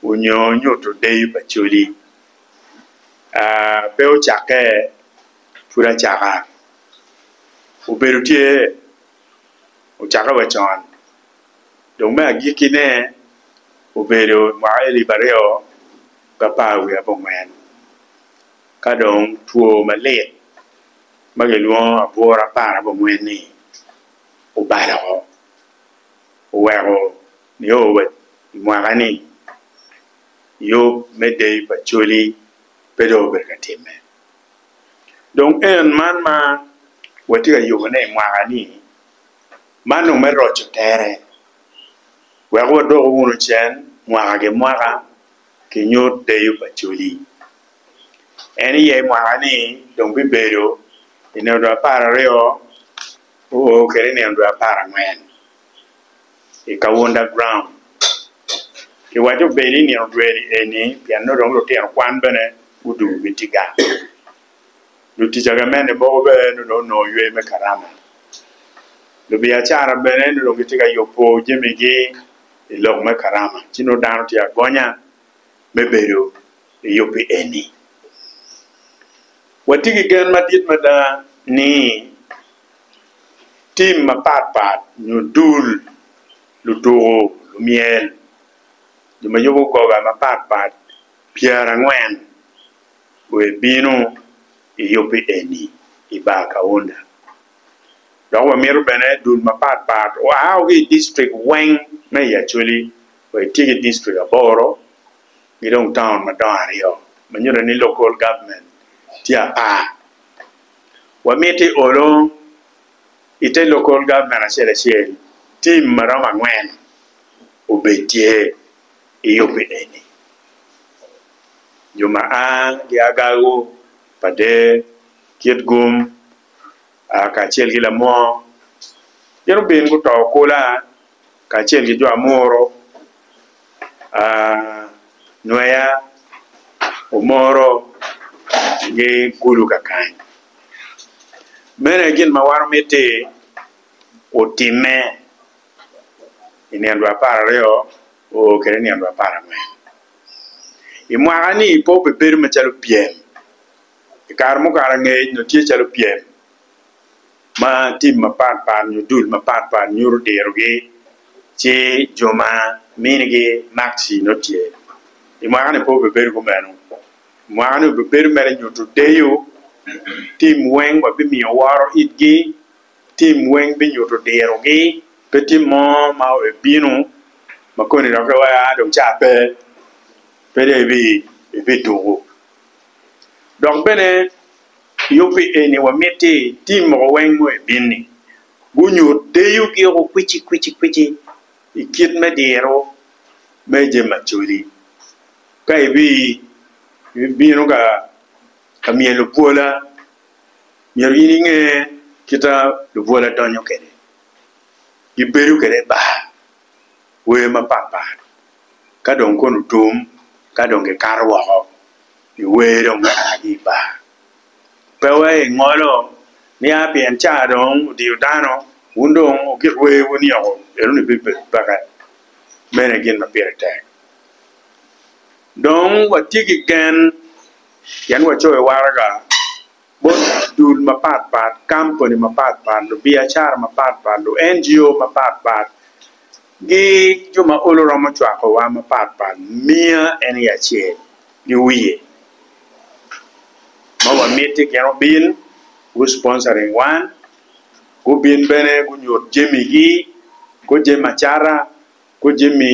onyo nyuto deyo pa coli pe ocake pud acaka obedo tye ocake wa con dong me agiki ne obedo mwaka alip aryo ki apar wiye ki angwen ka dong two malit ma kilwongo abwura apar ki angwen ni obalo weko nio wa i mwaka-ni, yub me Deyo pa Coli pe dong obedo ka timme. Dong en man ma watye ka yubone i mwaka-ni, man dong me roco tere wek wadoko wunu cen mwaka ki mwaka ki nyut Deyo pa Coli. En iye i mwaka-ni dong bibedo i nino dwe apar aryo oo kwede i nino dwe apar angwen. i Kaunda Ground. Kiwaco obedi i nino dwe eni pien nongo dong lutino kwan bene gudwogo gitye gang. Lutic agamente mogo bene nongo dong onongo yweyo me Karama. Lubiacara bene nongo dong gitye ka yubo jamigi i lok me Karama ci nongo dano tye agonya me bedo i yubbi eni. Watye ki gen madit mada ni tim mapat pat nyo dul lutuku myel jo ma yubo goga mapat pat pyerangwen wek ebinu eyubbi eni i bar kaunda dok wamito bene dul mapat pat oa ki i district weng me i acholi wa etye ki district aboro ki dong taun madongo aryo ma nyuto ni local government tye apar wamiti olo i te Local Government acel acel team ma romo angwen obed tye i yubi eni jo ma a ki agagu, pader, kitgum, kacel ki lamwong gin gubin guto kula. kacel ki jo amuru, nweya omoro gi kulu kakany. Mene gin ma wan omiti otime i nino dwe apar aryo oo kede nino dwe apar angwen. I mwaka ni pe obebedo macalo pyem, i kare mukare angec nyo tye calo pyem. ma tim mapat pat nyo dul mapat pat nyuto dirogi ci jo ma minigi makci nongo tye. I mwaka ni pe obibedo kumeno. I mwaka ni obibedo mere nyuto deyo, tim weng wa bimiyo woro itgi, tim weng binyuto dirogi, pe tim mo ma ebino ma koni dok ki weko a dong ca pe, pe dong ibi tuku. Dok bene. Yo pi eni wamiti tim moko weng mo i bini gunyut deyo giko kwici kwici kwici i kit me diro me jami macoli. Ka ibi ibino ka ka myel lubwola myero in inge kita lubwola donyo kwede gibedo kwede i bar wer mapat pat ka dong kono otum ka dong gikato woko. Iwero marani i bar? Pe wai ingolo niya pien ca dong odiyo dano, wun dong wugik wer wunioko ento ni bibed peke, mene gin ma pire tek. Dong watye ki gen pien wacoyo waraga. bot dul mapat pat, kampuni mapat pat, lubiacara mapat pat, lu NGO mapat pat ki jo ma olo romo cwakowa mapat pat miya en aye acel ki wiye ma wamiti gin obin gu sponsoring wan gubin bene gunyut jamigi ko jami acata ko jami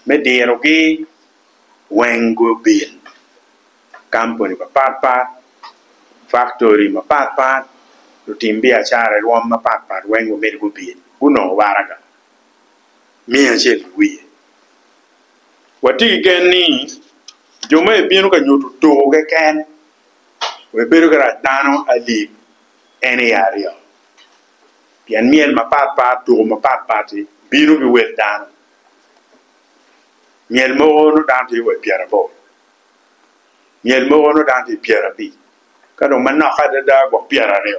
me dirogi weng gubin. kampuni mapat pat, faktori mapat pat, lutim biacara i rwom mapat pat weng wamiti gubin gunongo waraga me acel i wiye. Watye ki gen ni jo ma ebino ka nyuto tur keken wa ebedo ki rac dano alip en aye aryo pien myel mapat pat, tur mapat pat-ti bino ki wel dano myel mogo nongo dano tye wa i pyeraboro. myel mogo nongo dano tye i pyera abic ka dong manok adada gwok pyera aryo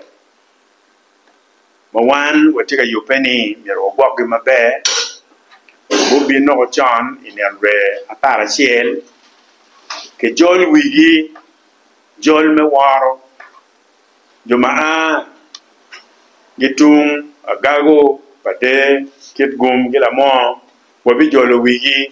ma wan watye ka yubbe ni myero wagwokgi maber gubin nongo con i nget wer apar acel kijol wigi jol me woro jo ma a ki tung agago, pader, kitgum ki lamoo wabijolo wigi.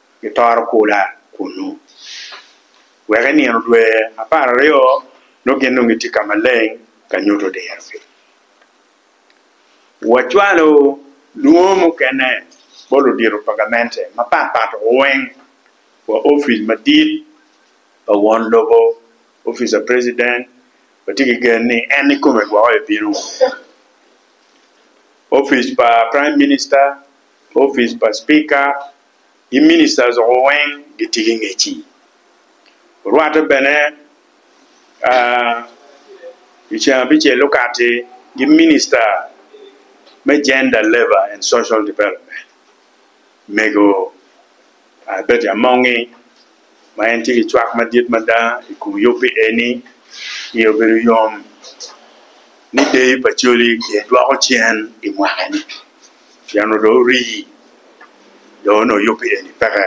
gitoro kula kunnu. Wek i nino dwe apar aryo nongo gin nongo gitye ka maleng ka nyuto dirogi. Wacwalo lwongo mukene bot ludito pa gamente mapat pat weng wa opic madit pa won lobo, opic pa president, watye ki gen ni en nikome gwoko ebino wa, opic pa prime minister, opic pa speaker gi ministers woko weng gitye ki ngec-ci. Orwatte bene i ceng abicel-li okatti ki minista me Gender, Labour and Social Development, Mego Betty Amongi. ma en tye ki cwak madit mada i kom yub pi eni iye obedo yom ni deyo pa coli ki dwoko cen i mwaka ni pien onongo dong ori dong onongo yub pi eni peke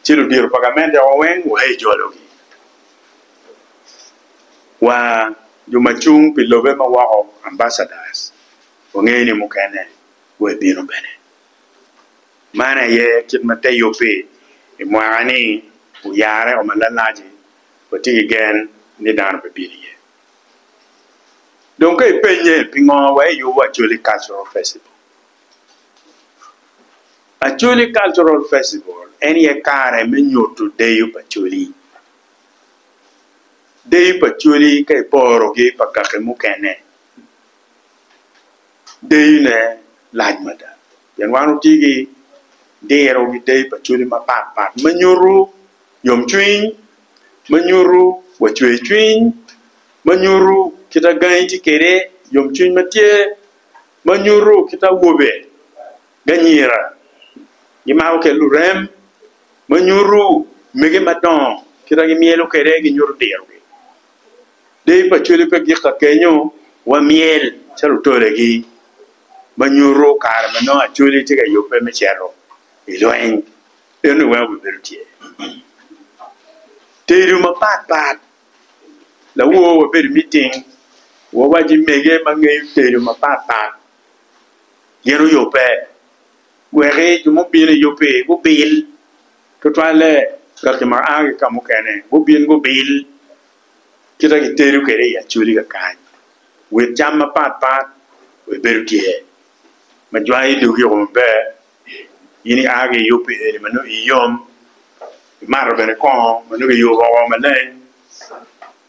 ci ludito pa gamente wa weng wa i jolo gi wa jo ma cung pi lobe ma woko ambacadas wangeyo ni mukene wa ebino bene Man aye kit ma te yub-bi i mwaka-ni oyarre o malalac-ci, watye ki gen ni dano bibino iye. Dong ka ipennye ni pingo wai iyubo Acholi Cultural Festival, Acholi Cultural Festival en aye kare me nyuto deyo pa Acholi. Deyo pa Acholi ka iporo ki pa kaki mukene. dayine lac mada pien wan watye ki diro ki dayi pa cwale mapat pat ma nyuto yomcwiny, ma nyuto wa cwercwiny, ma nyuto kita gangi tye kwede yomcwiny ma tye, ma nyuto kita awobe ki anyira gimako kwede lurem, ma nyuto mege madongo kita gimyelo kwede ginyuto dirogi. Deyo pa cwale pe gik ka kenyo wa myel calo otolegi ma nyuto kare ma nongo Acholi tye ka yubbe me cito i lweny. En ni weko bibedo tyer. Tedo mapat pat, lawowa wabedo i miting wawaci mege ma ngeyo tedo mapat pat gin oyubbe weki jo mubino i yub-bi gubil tutwalle kaki ma aa ki ka mukene gubin gubil. kita gitedo kwede i acoli kakany wit cam mapat pat wek bedo tyer ma jwango dogi o maber in ia ki iyub pi eni ma nongo iyom imato bene kongo ma nongo kiyubo woko maleng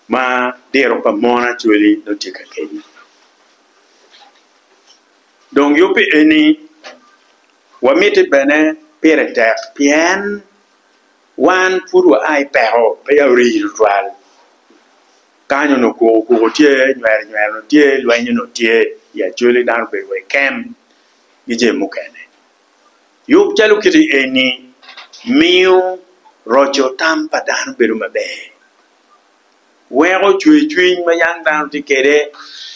ma diro pa mono acoli nongo tye ka keni dong yub pi eni wamiti bene pire tek pien Wan pud waa i peko, peya ori tutwal. Kany onongo koko koko tye, nywero nywero onongo tye, lweny onongo tye i Acholi, dano obedo wa i kem ki jami mukene. Yub calo kiti eni miyo roco tam pa dano bedo maber, weko cwercwiny ma yam dano tye kwede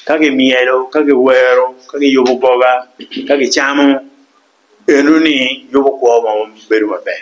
ka kimyelo, ka kiwero, ka kiyubo goga, ka kicamo, eno ni yubo kwo ma bedo maber.